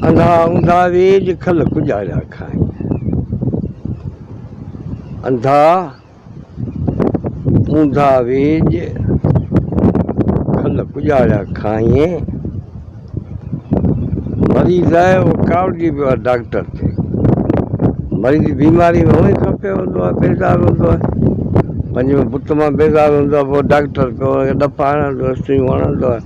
اندا اندا ويڄ کل ڪڄاڙيا کائين. اندا اندا ويڄ کل ڪڄاڙيا کائين. مريض آهي اهو ڪاوڙجي پيو آهي ڊاڪٽر تي. مريض بيماري ۾ هونئي کپيو هوندو آهي بيزار هوندو آهي پنهنجي بت مان بيزار هوندو آهي پوء ڊاڪٽر پيو هن کي ڏڦا هڻندو آهي سوئيون هڻندو آهي.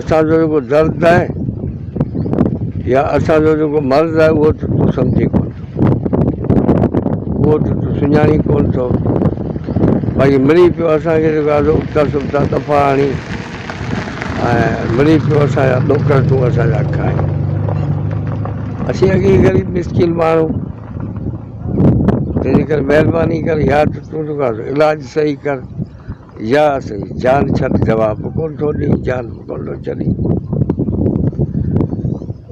اسان جو جيڪو درد آهي يا اسان جو جيڪو مرض آهي اهو ته تون سمجهي ڪونه اهو ته تون سڃاڻي ڪونه ٿو باقي ملي پيو اسانکي جيڪو آهي سو ابتا سبتا دفعا آڻي ۽ ملي پيو اسانجا ڏوڪڙ تون اسانجا کائي اسين اڳي غريب مسڪين ماڻهو تنهنجي ڪري مهرباني ڪر يا ته تون جيڪو آهي سو علاج صحيح ڪر يا سائين جان ڇڏ جواب به ڪونه ٿو ڏئي جان به ڪونه ٿو ڇڏي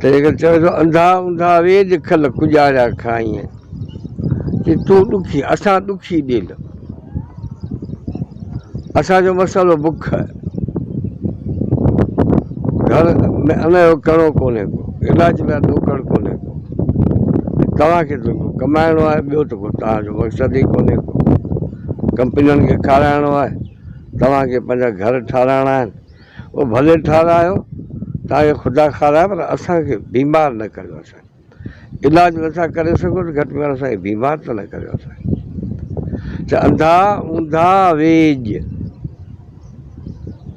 تنهن ڪري چوي ٿو انڌا انڌا ويڄ کل ڪڄاريا کائين چي تون ڏکي اسان ڏکي ڏيل اسانجو مسئلو بک آهي گھر ۾ ان جو ڪڻو ڪونهي ڪو علاج لاء ڏوڪڙ ڪونهي ڪو توهان کي ته ڪمائڻو آهي ٻيو ته ڪو توهان جو مقصد ئي ڪونهي ڪو ڪمپنين کي کارائڻو آهي توهان کي پنهنجا گهر ٺارائڻا آهن اهو ڀلي ٺارايو توهان کي خدا کارائي پر اسان کي بيمار نه ڪريو سائين علاج نٿا ڪري سگهو ته گهٽ ۾ گهٽ اسان کي بيمار ته نه ڪريو سائين چا انڌا اونداهه ويڄ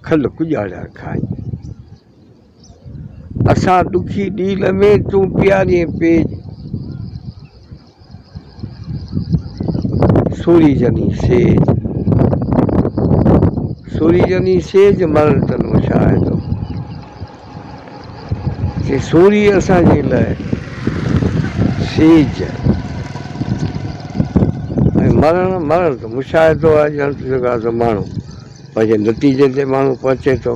کل ڪڄاڙيا کائين اسان دکي ڏينهن ۾ تون پيارين پيج سوري جني سيج سوري جني سيج مرڻ تن مشاهدو چي سوري اسان جي لاء سيج مرڻ مرڻ تن مشاهدو آهي ڄڻ ته جيڪا ماڻهو پنهنجي نتيجي تي ماڻهو پهچي ٿو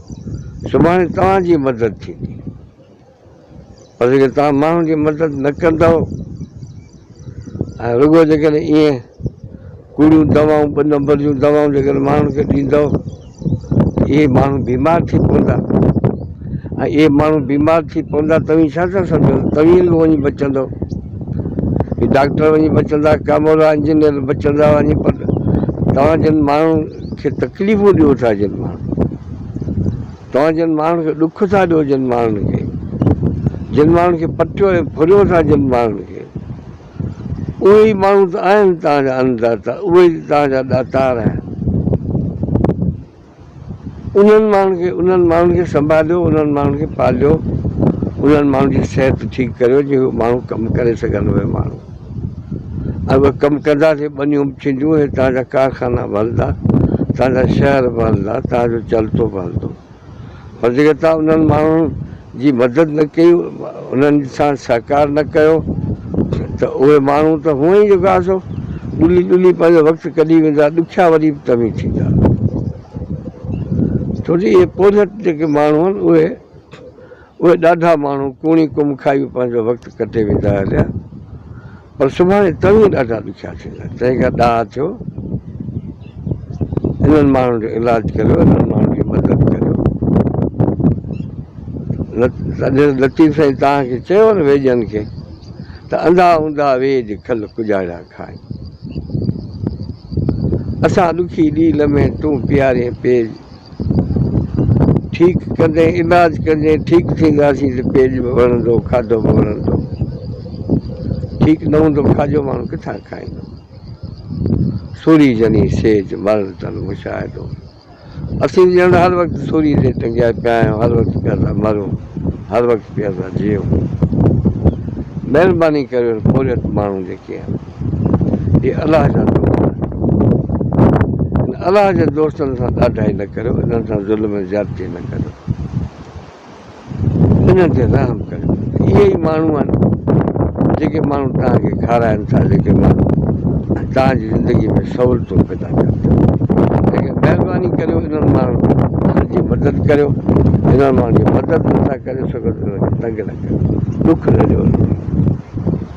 سڀاڻي توهان جي مدد ٿيندي پر جيڪڏهن توهان ماڻهن جي مدد نه ڪندؤ ۽ رڳو جيڪڏهن ائين ڪوڙيون دوائون ٻه نمبر جون دوائون جيڪڏهن ماڻهن کي ڏيندؤ اهي ماڻهو بيمار ٿي پوندا ۽ اهي ماڻهو بيمار ٿي پوندا توهين ڇا ٿا سمجھو توهين به وڃي بچندو ڊاڪٽر وڃي بچندا ڪامورا انجنيئر بچندا وڃي پر توهان جن ماڻهو کي تڪليفون ڏيو ٿا جن ماڻهن کي توهان جن ماڻهن کي ڏک ٿا ڏيو جن ماڻهن کي جن ماڻهن کي پٽيو ۽ ڦريو ٿا جن ماڻهن کي اهي ئي ماڻهو ته آهن توهان جا ان داتا اهي ئي توهان جا ڏاتار آهن انهن ماڻهن کي انهن ماڻهن کي سنڀاليو انهن ماڻهن کي پاليو انهن ماڻهن جي صحت ٺيڪ ڪريو جي اهي ماڻهو ڪم ڪري سگهن اهي ماڻهو اهي ڪم ڪندا تي ٻنيون به ٿينديون ۽ توهان جا ڪارخانا به هلندا، توهان جا شهر به هلندا، توهان جو چلتو به هلندو. پر جيڪڏهن توهان انهن ماڻهن جي مدد نه ڪئي، انهن سان سهڪار نه ڪيو ته اهي ماڻهو ته هونئن ئي جيڪا سو ڏلي ڏلي پنهنجو وقت ڪڍي ويندا، ڏکيا وري به توهين ٿيندا. ڇو جو اهي پورهيت جيڪي ماڻهو آهن اهي. اهي ڏاڍا ماڻهو ڪوڻي ڪم کائي به پنهنجو وقت ڪٽي ويندا هليا پر سڀاڻي توهين ڏاڍا ڏکيا ٿيندا تنهن کان ڏاهه ٿيو انهن ماڻهن جو علاج ڪريو انهن ماڻهن جي مدد ڪريو لطيف سائين توهان کي چيو نه ويڄن کي ته انڌا انڌا ويڄ کل ڪڄاڙيا کائين اسان ڏکي ڏينهن لمحي تون پيارين پيج ٺيڪ ڪندين علاج ڪندين ٺيڪ ٿينداسين ته پيٽ به وڙهندو کاڌو به وڙهندو ٺيڪ نه هوندو کاڄو ماڻهو ڪٿان کائيندو سوري جني سيج مرڻ تن مشاهدو اسين ڄڻ هر وقت سوري تي ٽنگيا پيا آهيون هر وقت پيا ٿا مرون هر وقت پيا ٿا جيئون مهرباني ڪريو پورهيت ماڻهو جيڪي آهن هي الله جا دوست آهن ان الله جي دوستن سان ڏاڍائي نه ڪريو انهن سان ظلم ۽ زيادتي نه ڪريو انهن تي رحم ڪريو اهي ئي ماڻهو آهن جيڪي ماڻهو توهان کي کارائن ٿا جيڪي ماڻهو توهان جي زندگي ۾ سهولتون پيدا ڪن ٿا مهرباني ڪريو انهن ماڻهن جي مدد ڪريو انهن ماڻهن جي مدد نٿا ڪري سگهو ته انهن کي تنگ نه ڪريو ڏک نه ڏيو